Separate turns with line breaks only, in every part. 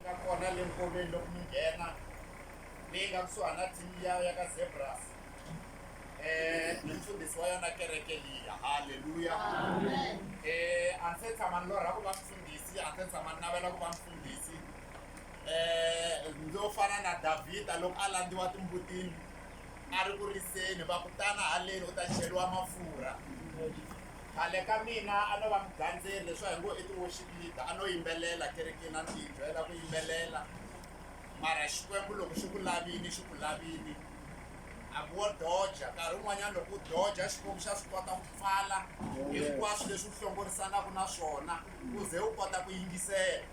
nga kona le nkoveni loko mi nghena leyi nga kusuhani na team liya ya ka zebras um ni mfundhisi wa yona kereke liya halleluya um
a ndzi se
tshama ni lorha ku va mfundhisi a ndzi se tshama ni navela ku va mfundhisi um ndzo fana na davhida loko a landziwa timbutini a ri ku riseni va kutana haleni u ta cheriwa mafurha Khale ka mina a no va mugandzeri leswi a hi ngo i ti-worship leader a no yimbelela kerekeni a ni tiyibyela ku yimbelela mara Xikwembu loko xi ku lavini xi ku lavini a ku wo doja nkarhi wun'wanyana loko u doja Xikwembu xa swi kota ku pfala hinkwaswo leswi u hlongorisanaka na swona u ze u kota ku yingisela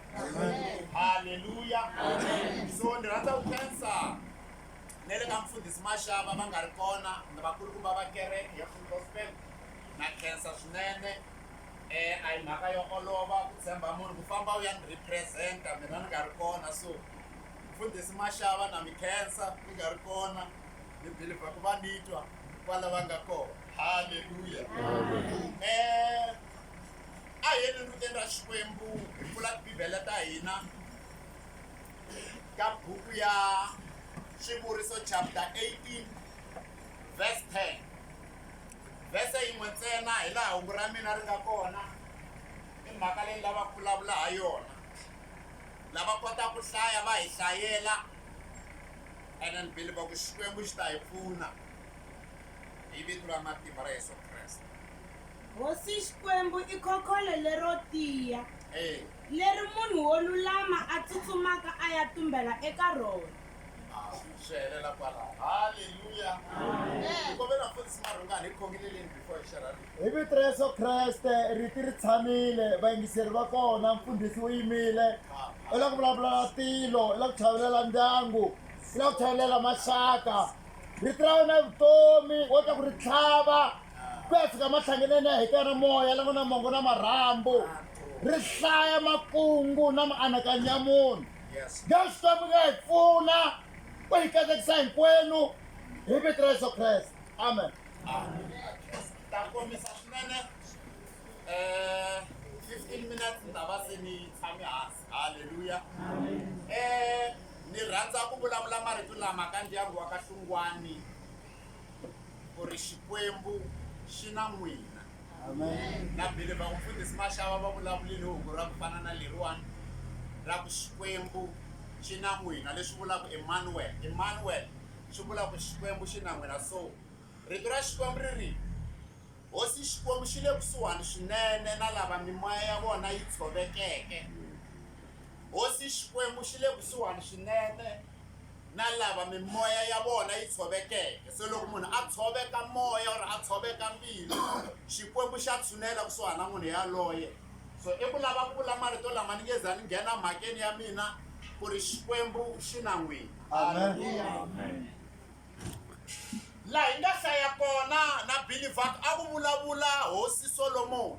halleluya so ni rhandza ku khensa na le ka mfundhisi maxava va nga ri kona ni vakulukumba va kereke ya full gospel Na khensa swinene e a hi mhaka yo olova ku tshemba munhu ku famba u ya ni represent-a mina ni nga ri kona so mfundhisi Mashava na mi khensa mi nga ri kona ni believer ku va ni twa kwala va nga kona haleluya um a hi yeni endlukeni ra Xikwembu hi pfula tibibele ta hina ka buku ya Swivuriso chapter 18 verse 10. Vhese yin'we ntsena hi laha hungu ra mina ri nga kona i mhaka leyi ni lavaka ku vulavula ha yona. Lava kotaka ku hlaya va hi hlayela ene ni beliva ku Xikwembu xi ta hi pfuna hi vito ra matimba ra Yesu Kreste. Hosi
Xikwembu i khokholo lero tiya leri munhu wo lulama a tsutsumaka a ya tumbela eka rona. swi
helela kwalaho halleluya hi kombela mfundhisi marhungani hi khongeleleni before hi xerha hi vito ra yesu
kreste riti ri tshamile vayingiseri va kona mfundhisi wu yimile u la ku vulavula na tilo u la ku chavelela ndyangu u la ku chavelela maxaka riti ra wena vutomi wo ta ku ri tlhava ku ya fika mahlangeneni ya hikana moya la ku na mongo na marhambu ri hlaya makungu na mianakanyo ya munhu Yes. Leswi Xikwembu nga hi pfuna ku hi katekisa hinkwenu hi vito ra Yesu Kreste. Amen.
ta kombisa swinene um fifteen minutes ni ta va se ni tshame hansi halleluya um ni rhandza ku vulavula marito lama ka ndyangu wa ka hlungwani ku ri xikwembu xi na n'wina na
bile vamufundhisi
maxava va vulavulile hungu ra ku fana na leriwani ra ku xikwembu xi na n'wina leswi vulaka emanuel emanuel swi vula ku xikwembu xi na n'wina so rito ra xikwembu ri ri hosi xikwembu xi le kusuhani swinene na lava mimoya ya vona yi tshovekeke hosi xikwembu xi le kusuhani swinene na lava mimoya ya vona yi tshovekeke. Se loko munhu a tshoveka moya or a tshoveka mbilu, Xikwembu xa tshunela kusuhana na munhu yaloye. So i ku lava ku vula marito lama ni nge za ni nghena mhakeni ya mina ku ri Xikwembu xi na n'wina. Amen. Laha hi nga hlaya kona na Billy Vaka a ku vulavula Hosi Solomoni.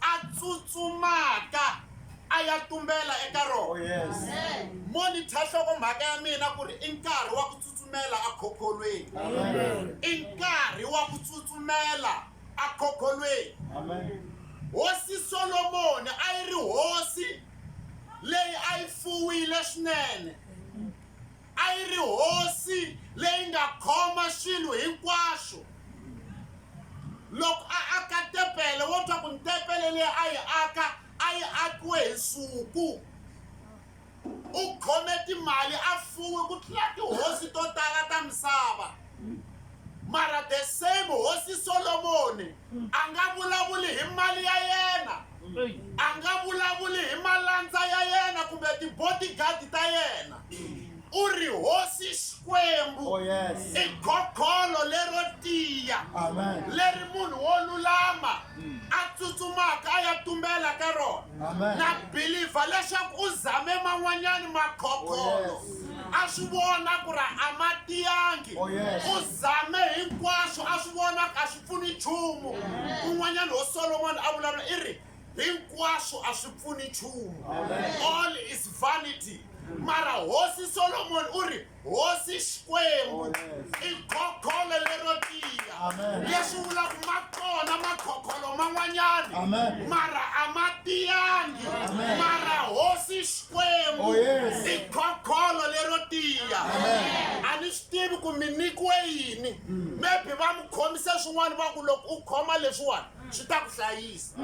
a tsutsumaka a ya tumbela eka rona
monitha
nhloko mhaka ya mina ku ri i nkarhi wa ku tsutsumela ekhokholweni i
nkarhi
wa ku tsutsumela ekhokholweni
hosi
solomoni a yi ri hosi leyi a yi fuwile swinene A yi ri hosi leyi nga khoma swilo hinkwaswo. Loko a aka tepele, wo twa ku ntepele leyi a yi aka a yi akiwe hi nsuku. U khome timali, a fuwe ku tlula tihosi to tala ta misava. mara the same hosi solomoni a nga vulavuli hi mali ya yena a nga vulavuli hi malandza ya yena kumbe tibodigadi ta yena u ri hosi xikwembu oh, i
gokholo
lero tiya leri
munhu wo
lulama a tsutsumaka a ya tumbela ka rona na bilivha leswaku u zame man'wanyani makhokholo oh, a swi vona ku ri a
ma
tiyangi oh, u zame hinkwaswo a swi vona a swi pfuni nchumu kun'wanyani ho solomoni a vulavula i ri hinkwaswo a swi pfuni nchumu all is vanity mara hosi solomoni u ri hosi xikwembu i khokholo lero tiya leswi vulaka ma kona makhokholo man'wanyani mara a ma tiyangi mara hosi xikwembu oh, i khokholo lero tiya a ni swi tivi ku mi nyikiwe yini hmm. maybe va mi khomise swin'wana va ku loko u khoma leswiwani swi ta ku hlayisa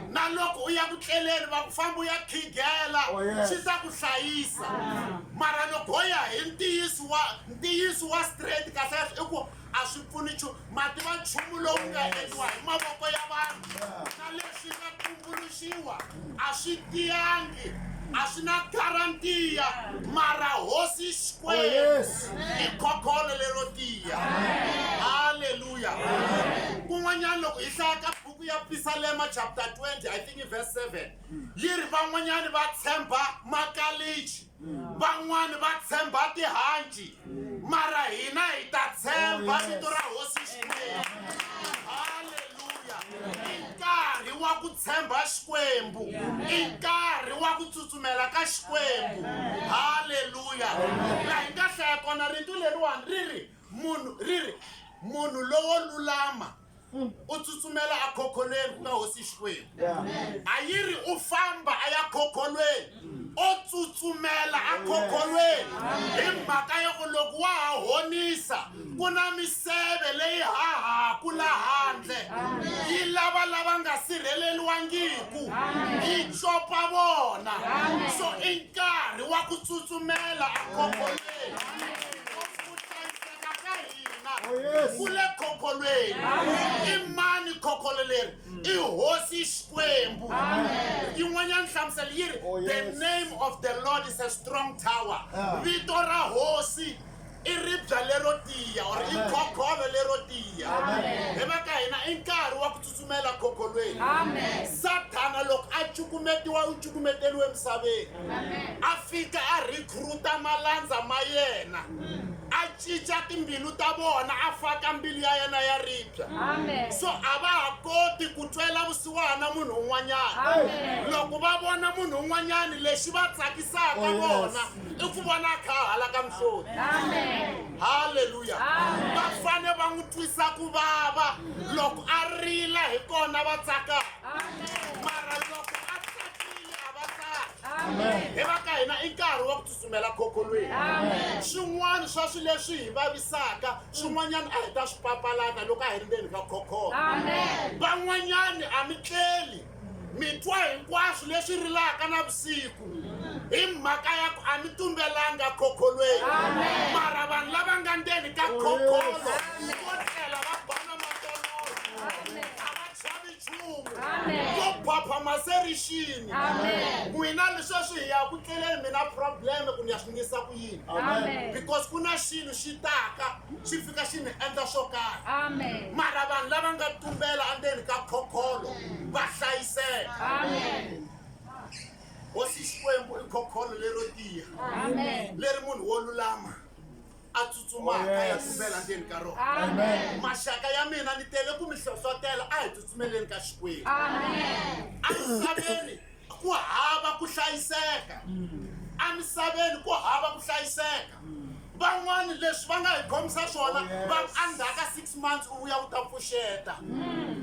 na loko u ya ku tleleni va ku famba u ya khigela oh, swi ta ku hlayisa mara loko ho ya hi ntiyiso wa ntiyiso wa straight kahlekahle i ku a swi pfuni nchumu mativa nchumu lowu nga endliwa hi mavoko ya vanhu na leswi nga tumbuluxa Swiwa a swi tiyangi, a swi na garantiya, mara Hosi Xikwembu i khokholo lero tiya. Haleluya! Kun'wanyana loko hi hlaya ka buku ya Pisalema chapter 20 I think i verse 7 yi ri van'wanyana va tshemba makalichi van'wani va tshemba tihanci mara hina hi ta tshemba oh, vito ra hosi xikwembu halleluya i nkarhi wa ku tshemba xikwembu i nkarhi wa ku tsutsumela ka xikwembu halleluya la hi nga hlaya kona rito leriwani ri ri munhu ri ri munhu lowo lulama Mm. u tsutsumela a khokholweni ku nga hosi xikwembu a yi ri u famba a ya khokholweni mm. o tsutsumela a khokholweni hi mhaka yo ku loko wa ha honisa mm. ku na miseve leyi hahaku la handle yi lava lava nga sirheleliwangiku yi copa vona so i nkarhi wa ku tsutsumela a khokholweni hina oh, ku le khokholweni i mani khokholo leri i hosi xikwembu yin'wanyana nhlamuselo yi ri oh, the name of the lord is a strong tower ah. vito ra hosi i ribya lero tiya or i khokholo lero tiya hi va ka hina i nkarhi wa ku Tsumela kokolweni. Sathana loko a cukumetiwa u cukumeteriwe emisaveni. A fika a recruita malandza ma yena. A cinca timbilu ta vona a faka mbilu ya yena ya ribya. So a va ha koti ku twela vusiwana munhu un'wanyana. Loko va vona munhu un'wanyana lexi va tsakisaka vona i ku vona a kha a halaka mihloti halleluya va fane va n'wi twisa ku vava loko a rila hi kona va tsaka mara loko a tsakile a va tsaki hi va ka hina i nkarhi wa ku tsutsumela khokholweni swin'wana swa swi leswi hi vavisaka swin'wanyana a hi ta swi papalata loko a hi ri ndzeni ka khokhola van'wanyani a mi tleli mi twa hinkwaswo leswi rilaka na vusiku hi mhaka ya ku a mi tumbelanga khokholweni mara vanhu lava nga ndzeni ka khokholo vo tlela va bana matoloyo a va chavi nchumu vo phapha maserixini n'wina lesweswi hi ya ku tleleni mina probleme ku ni ya swi ngisa ku yini because ku na xilo xi taka xi fika xi ni endla swo karhi mara vanhu lava nga tumbela endzeni ka khokholo va hlayiseka hosi xikwembu i khokholo lero tiya leri munhu wo lulama a tsutsumaka oh, ya tumbela ndzeni ka rona maxaka ya mina ni tele ku mi hlohlotela a hi tsutsumeleni ka xikwembu emisaveni ku hava ku hlayiseka emisaveni ku hava ku hlayiseka van'wani leswi va nga hi khomisa swona va endzhaka six months u vuya u ta pfuxeta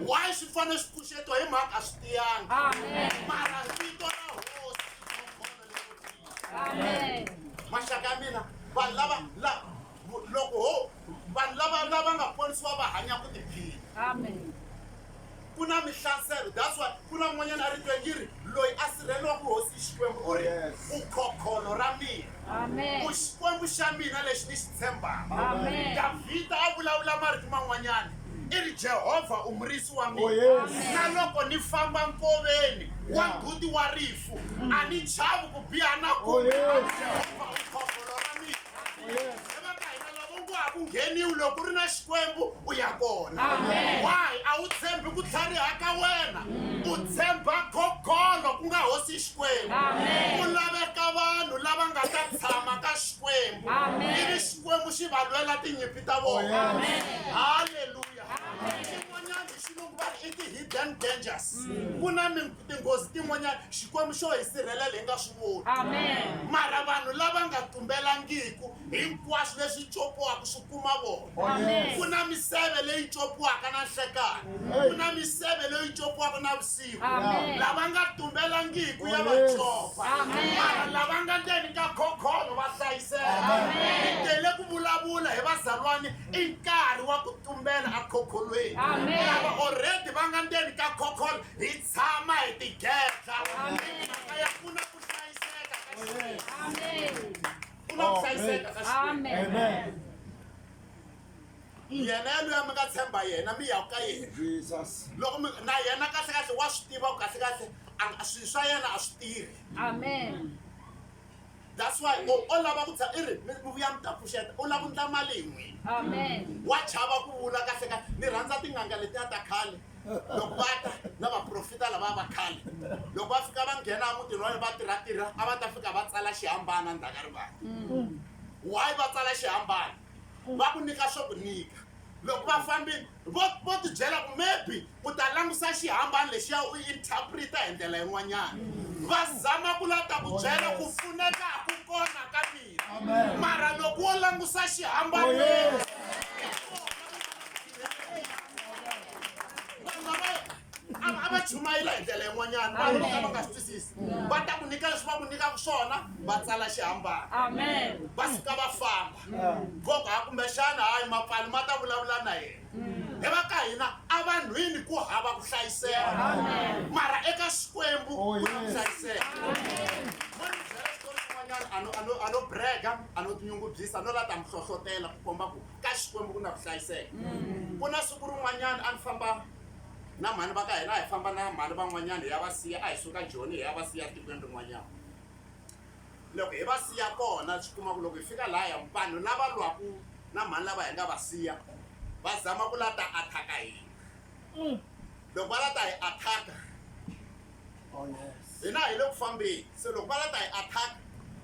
why swi fanele swi pfuxetiwa hi mhaka a swi tiyanga mara vito ra hosi i khombono lero tiya maxaka ya mina vanhu lava lava loko ho vanhu lava lava nga ponisiwa va hanya ku tiphina amen ku na mihlaselo that's why ku na n'wanyana a ri twe yi ri loyi a sirhelelaka hosi xikwembu u ri vukhokholo ra mina ku xikwembu xa mina lexi ni xi tshembaka davhida a vulavula marito man'wanyana i ri jehovha u murisi wa mina oh, na loko ni famba nkoveni wa mbuti wa rifu a ni chavi ku biha na oh, kumbe jehovha vukhokholo ra mina ngheniwi loko u ri na xikwembu u ya kona why a wu tshembi ku tlhariha ka wena u tshemba gogolo ku nga hosi xikwembu ku laveka vanhu lava nga ta tshama ka xikwembu ivi xikwembu xi va lwela tinyimpi ta vona halleluya xin'wanyana xilungu va ri i ti-hidden dangers ku na tinghozi tin'wanyana Xikwembu xo hi sirhelela hi nga swi voni. Amen. Mara vanhu lava nga tumbelangiku, hinkwaswo leswi copiwaka swi kuma vona. Amen. Ku na miseve leyi copiwaka na nhlekani, ku na miseve leyi copiwaka na vusiku. Amen. Lava nga tumbelangiku ya va copa, Amen. mara lava nga ndzeni ka khokholo va hlayiseka. Amen. Hi tele ku vulavula hi vazalwani, i nkarhi wa ku tumbela ekhokholweni. Amen. Lava already va nga ndzeni ka khokholo, hi tshama hi tigedla mhaka ya ku na ku hlayiseka ka ku na ku hlayiseka ka yena yaloya mi nga tshemba yena mi yaku ka yena loko na yena kahle kahle wa swi tiva ku kahle kahle swilo swa yena a swi tirhi amen That's why u o lava ku tshama i ri mi vuya mi ta pfuxeta u lava ku ndla mali hi n'wini wa chava ku vula kahle kahle ni rhandza tin'anga letiya ta khale loko va ta na vaprofita lava va khale loko va fika va nghena emutini wa va tirha tirha a va ta fika va tsala xihambana ndzhaka rivala why va tsala xihambana va ku nyika swo ku nyika loko va fambile Vo vo tibyela ku maybe u ta langusa xihambani lexiya u interpreta hi ndlela yin'wanyana va zama ku la ta ku byela ku pfuneka ku kona ka mina mara loko wo langusa xihambani a va chumayela hi ndlela yin'wanyana vanhu vo ka va nga swi twisisi va ta ku nyika leswi va ku nyikaka swona va tsala xihambani va suka va famba voko ha kumbexana hayi mapfali ma ta vulavula na yena hi va ka hina a vanhwini ku hava ku hlayiseka mara eka xikwembu ku na ku hlayiseka ano brega ano tinyungubyisa no la ta mi hlohlotela ku komba ku ka xikwembu ku na ku hlayiseka ku na siku rin'wanyana a ni famba na mhani va ka hina a hi famba na mhani van'wanyana hi ya va siya a hi suka joni hi ya va siya tikweni rin'wanyana Loko hi va siya kona, swi kuma ku loko hi fika lahaya, vanhu lava lwaku na mhani lava hi nga va siya va zama ku la ta attack-a hina. Loko va la ta hi attack-a, hina hi le ku fambeni, se loko va la ta hi attack-a,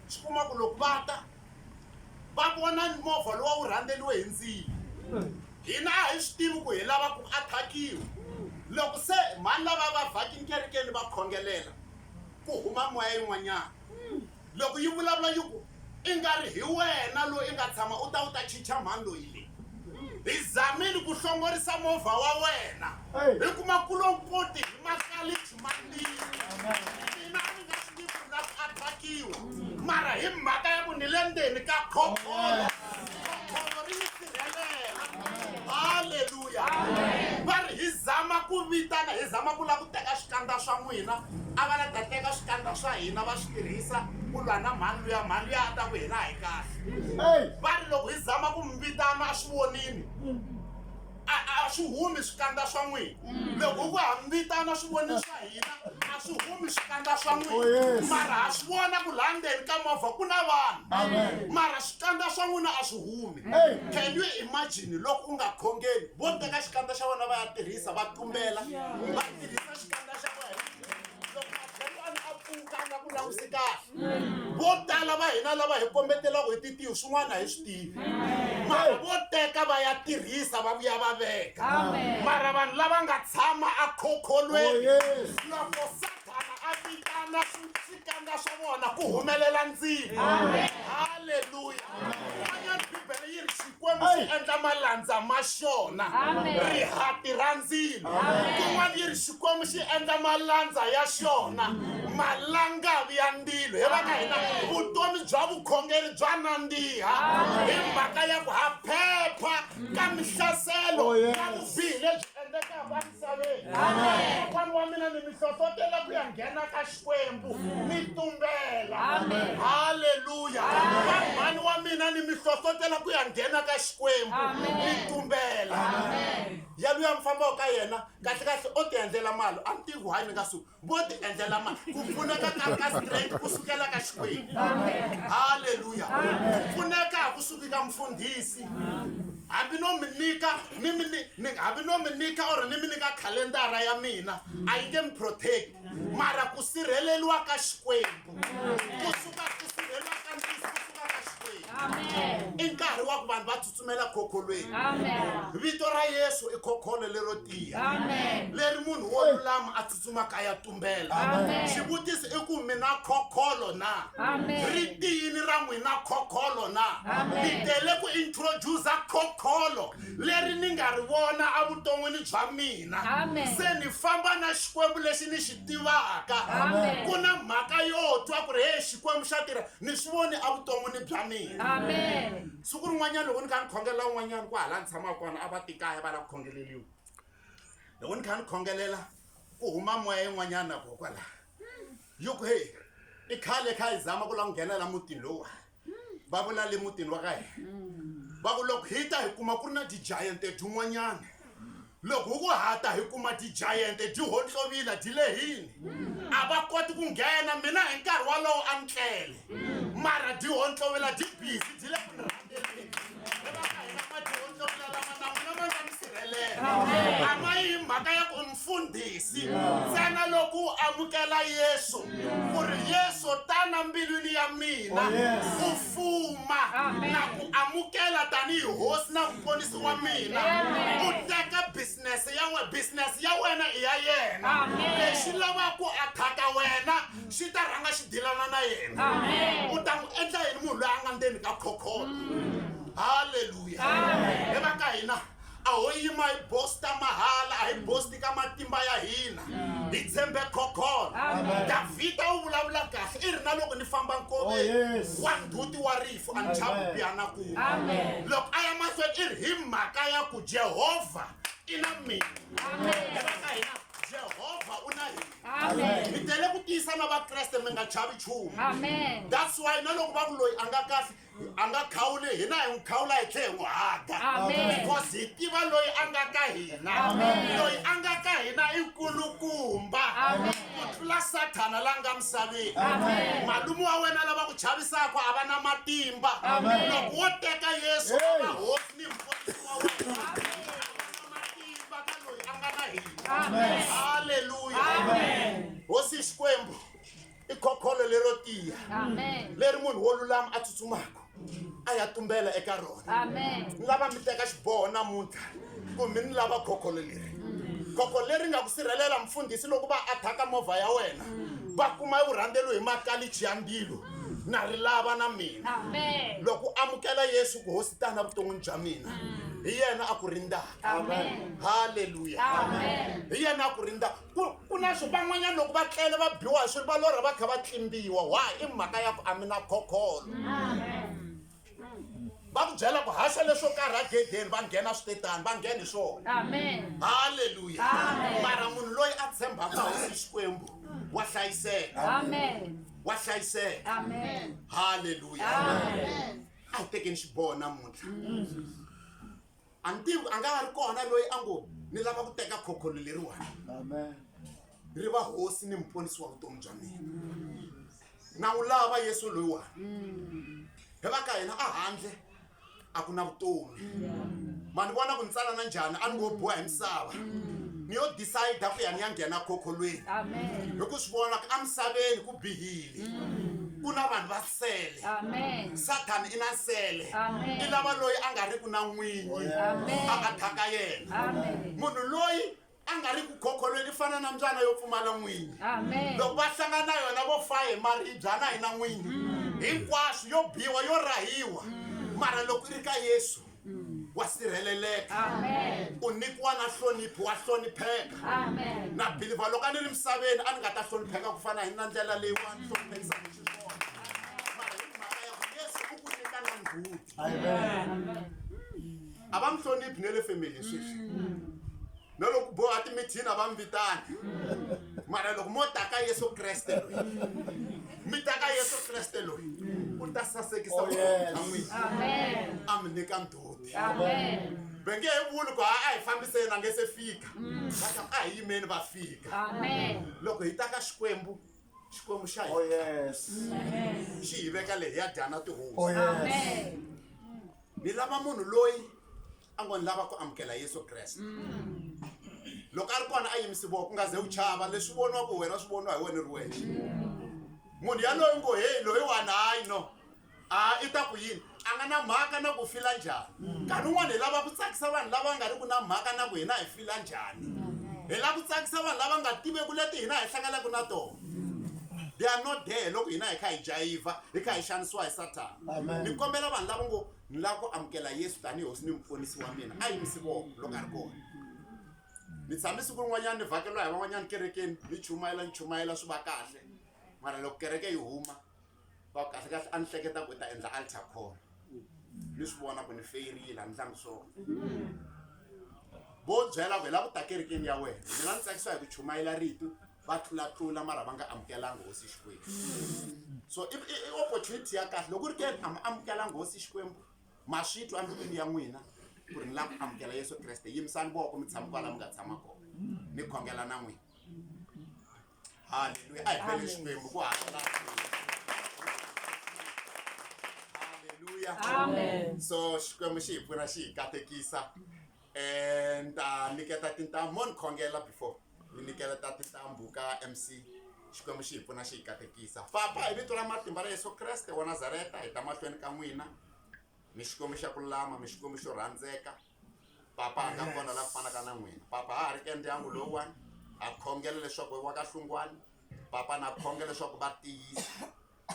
swi kuma ku loko va ta, va vona movha luwa wu rhandzeriwe hi ndzilo. Hina a hi swi tivi ku hi lava ku attack-iwa. Loko se mhani lava va vhakini kerekeni va khongelela, ku huma moya yin'wanyana loko yi vulavula yi ku i nga ri hi wena loyi i nga tshama u ta u ta chicha mhani loyi leyi hi zamile ku hlongorisa movha wa wena hi kuma kulonkoti hi makalichi mambili mina a ni nga swi tivi ku na ku atakiwa mara hi mhaka ya ku ni le ndzeni ka khokolo haleluya va ri hi zama ku vitana hi zama ku lava ku teka swikandza swa n'wina a va la ta teka swikandza swa hina va swi tirhisa ku lwa na mhani luya mhani luya a ta ku hina hi kahle va ri loko hi zama ku mi vitana a swi vonini a swi humi swikandza swa n'wina loko ku hambitana swivoni swa hina a swi humi swikandza swa n'wina oh, mara ha swi vona ku laha ndzeni ka movha ku na vanhu mara swikandza swa n'wina a swi humi can you imagine loko u nga khongeli vo teka xikandza xa vona va ya tirhisa va tumbela va tirhisa xikandza xa wena loko matlhelwani a pfuka a nga ku languse kahle vo tala va hina lava hi kombetelaka hi titiyo swin'wana hi swi tivi mara vo teka va ya tirhisa va vuya va veka mara vanhu lava nga tshama a khokholweni loko sathana a vitana swi Kanga swa vona ku humelela ndzilo. Haleluya. Van'wana Bibele yi ri Xikwembu xi endla malandza ma xona rihati ra ndzilo. Kun'wana yi ri Xikwembu xi endla malandza ya xona malangavi ya ndilo. He vana hina vutomi bya vukhongeri bya nandziha hi mhaka ya ku ha phepha ka mihlaselo ya vubihi lebyi endlekaka. misaveni kokwana wa mina ni mi hlohlotela ku ya nghena ka xikwembu mi tumbela halleluya mhani wa mina ni mi hlohlotela ku ya nghena ka xikwembu mi tumbela yaluya mi fambaka ka yena kahle kahle o ti endlela mali a ni tivi hayi ni nga suki vo ti endlela ma ku pfuneka ka ri ka straight ku sukela ka xikwembu halleluya ku pfuneka ku suki ka mfundhisi hambi no mi nyika ni mi ni hambi no mi nyika or ni mi nyika khalendara ya mina a yi nge mi protect mara ku sirheleliwa ka xikwembu ku suka ku sirheleliwa ka ntiso ku suka ka xikwembu
i nkarhi wa
ku vanhu va tsutsumela khokholweni vito
ra yesu
i khokholo lero tiya leri
munhu wo
lulama a tsutsumaka a ya tumbela xivutiso
i ku
mina khokholo na ri
tiyini ra
n'wina khokholo na ni tele ku introdusa khokholo leri ni nga ri vona evuton'wini bya mina se ni
famba na
xikwembu lexi ni xi tivaka ku na
mhaka yo
twa ku ri he xikwembu xa tirha ni swi voni evuton'wini bya mina siku
rin'wanyana loko
ni kha ni khongelela un'wanyana ku hala ni tshamaka kona a va tikaya va lava ku khongeleriwa loko ni kha ni khongelela ku huma moya yin'wanyana ko kwala yo ku heyi i khale kha yi zama ku la ku nghenela mutini lowa va vula le mutini wa ka hina va ku loko hi ta hi kuma ku ri na ti-giant tin'wanyana Loko hi ku hata hi kuma tijayente dyi hontlovila dyi lehini, a va koti ku nghena, mina hi nkarhi walowo a ni tlele. Mara dyi hontlovila dyi busy dyi le ku ni rhangeleni. Hi va ka hina madyi hontlovila lama na n'wina ma nga ni sirhelela. A ma yi hi mhaka ya ku mfundhisi, ntsena loko u amukela Yesu ku ri Yesu tana mbilwini ya mina u fuma na ku amukela tanihi hosi na muponisi. wa mina u teka business ya wena business ya wena i ya yena lexi lavaka ku athaka wena xi ta rhanga xi dilana na yena u ta n'wi endla yini munhu loyi a nga ndzeni ka khokholo halleluya hi va ka hina a ho yima hi bosta mahala a hi bosti ka matimba ya hina hi tshembe khokholo davhida u vulavula kahle i ri na loko ni famba nkoveni wa nduti wa rito a ni chavupi a na kuma loko a ya mahlweni i ri hi mhaka ya ku jehovha i na mina eka hina jehovha u na hina hi tele ku tiyisa na vakreste mi nga chavi nchumu that's why na loko va ku loyi a nga kahle a nga khawuli hina hi n'wi khawula hi tlhe hi n'wi haga because hi tiva loyi a nga ka hina loyi a nga ka hina i nkulukumba ku tlula sathana la nga misaveni malume wa wena lava ku chavisaka a va na matimba loko wo teka yesu a va hosi ni mfundisi wa wena a va na matimba ka loyi a nga na hina halleluya hosi xikwembu i khokholo lero tiya leri munhu wo lulama a tsutsumaka a ya tumbela eka rona ni lava mi teka xiboho namuntlha ku mi ni lava khokholo leri khokho leri nga ku sirhelela mfundhisi loko va athaka movha ya wena va kuma eku rhandzelo hi makalichi ya mbilo na ri lava na mina loko amukela yesu ku hosi tana vuton'wini bya mina hi yena a ku rindzaka halleluya hi yena a ku rindzaka ku ku na swi van'wanyana loko va tlele va biwa hi swilo va lorha va kha va tlimbiwa wa i mhaka ya ku a mi na khokholo va ku byela ku haxa leswo karhi agedeni va nghena switetani va nghena hi swona halleluya mara munhu loyi a tshembaka hosi xikwembu wa hlayiseka wa hlayiseka halleluya a hi tekeni xiboho namuntlha a ni tivi a nga ha ri kona loyi a ngo ni lava ku teka khokholo leriwani ri va hosi ni muponisi wa vutomi bya mina na wu lava yesu loyiwani hi va ka hina a handle a ku na vutomi ma ni vona ku ni tsanana njhani a ni ngo boha hi misava ni yo decide ku ya ni ya nghena khokholweni hi ku swi vona ku emisaveni ku bihile ku na vanhu va nsele sathana i na nsele i lava loyi a nga ri ku na n'winyi oh, a a thyaka yena munhu loyi a nga ri ku khokholweni i fana na mbyana yo pfumala n'winyi loko va hlangana na yona vo fa hi maribyana hi na n'winyi mm. hinkwaswo yo biwa yo rahiwa mm. mara loko i ri ka yesu mm. wa sirheleleka u nyikiwa na hlonipho wa hlonipheka na bilivha loko a ni ri misaveni a ni nga ta hlonipheka ku fana hi na ndlela leyi wa ni hloniphekisa hi xiswona mara hi mhaka ya ku yesu u ku nyika na nghuti a va mi hloniphi ne le family sweswi mm. na loko boha timithini a va mi vitani mara loko mo ta ka yesu kreste loyi mi ta ka yesu kreste loyi u ta sasekisa vutomi bya n'wina a mi nyika ndhoti va nge he vuli ku a a hi fambiseni a nge se fika va ta a hi yimeni va fika loko hi ta ka xikwembu xikwembu xa Oh, hina yes. xi hi veka leyi ya dyana tihosi ni lava munhu loyi a ngo ni lava ku amukela yesu kreste loko a ri kona a yimisi voko u nga ze u chava leswi voniwa ku wena swi voniwa hi wena ri wexe munhu yaloyi ngo heyi loyi wani hayi no a i ta ku yini a nga na mhaka na ku fila njhani nkarhi wun'wana hi lava ku tsakisa vanhu lava nga ri ku na mhaka na ku hina hi fila njhani hi lava ku tsakisa vanhu lava nga tiveku leti hina hi hlanganaka na tona they are not there loko hina hi kha hi jayiva hi kha hi xanisiwa hi sathana ni kombela vanhu lava ngo ni lava ku amukela yesu tanihi hosi ni mupfunisi wa mina a yimisi voko loko a ri kona ni tshame siku rin'wanyana ni vhakeriwa hi van'wanyana kerekeni ni chumayela ni chumayela swi va kahle mara loko kereke yi huma va kahle kahle a ni hleketa ku ta endla alter call ni swi vona ku ni feyirile a ni tlangi swona vo byela ku hi lava ku ta kerekeni ya wena mina ni tsakisiwa hi ku chumayela rito va tlulatlula mara va nga amukelanga hosi xikwembu so i i- i opportunity ya kahle loko u ri ke ni a mi amukelanga hosi xikwembu ma swi twa mbilwini ya n'wina ku ri ni lava ku amukela yesu kreste yimisani voko mi tshama kwala mi nga tshama kona ni khongela na n'wina halleluya a hi bele xikwembu ku hakela halleluya
so xikwembu xi
hi pfuna xi hi katekisa Eh, ni ta niketa tintambu mo ni khongela before ni nikela ta tintambu ka mc xikwembu xi hi pfuna xi hi katekisa papa hi vito ra matimba ra yesu kreste wa nazareta hi ta mahlweni ka n'wina mi xikwembu xa ku lama mi xikwembu xo rhandzeka papa a nga kona la ku fanaka na n'wina papa ha ha ri ka ndyangu lowuwani ha khongela leswaku wa ka hlungwani papa na khongela leswaku va tiyisa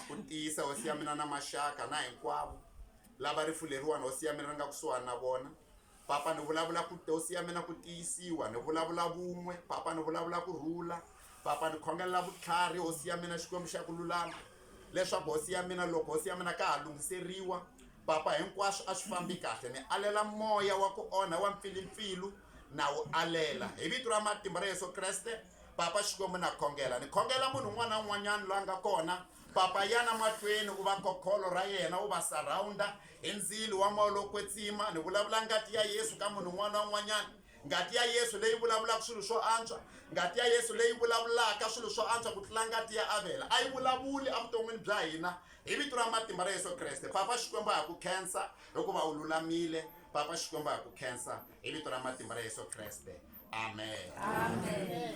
ku tiyisa hosi ya mina na maxaka na hinkwavo lava rifuleriwani hosi ya mina ri nga kusuhani na vona papa ni vulavula ku hosi ya mina ku tiyisiwa ni vulavula vun'we papa ni vulavula ku rhula papa ni khongelela vutlhari hosi ya mina xikwembu xa ku lulama leswaku hosi ya mina loko hosi ya mina ka ha lunghiseriwa papa hinkwaswo a swi fambi kahle ni alela moya wa ku onha wa mpfilimpfilu na wu alela hi vito ra matimba ra yesu kreste Papa Xikwembu na khongela ni khongela munhu un'wana na un'wanyana loyi a nga kona papa yana mahlweni u va kokholo ra yena u va surrounda hi ndzilo wa moya lowo kwetsima ni vulavula ngati ya yesu ka munhu un'wana na un'wanyana ngati ya yesu leyi vulavulaka swilo swo antswa ngati ya yesu leyi vulavulaka swilo swo antswa ku tlula ngati ya avela a yi vulavuli evuton'wini bya hina hi vito ra matimba ra yesu kreste papa xikwembu a hi ku khensa hikuva u lulamile papa xikwembu a hi ku khensa hi vito ra matimba ra yesu kreste amen, amen.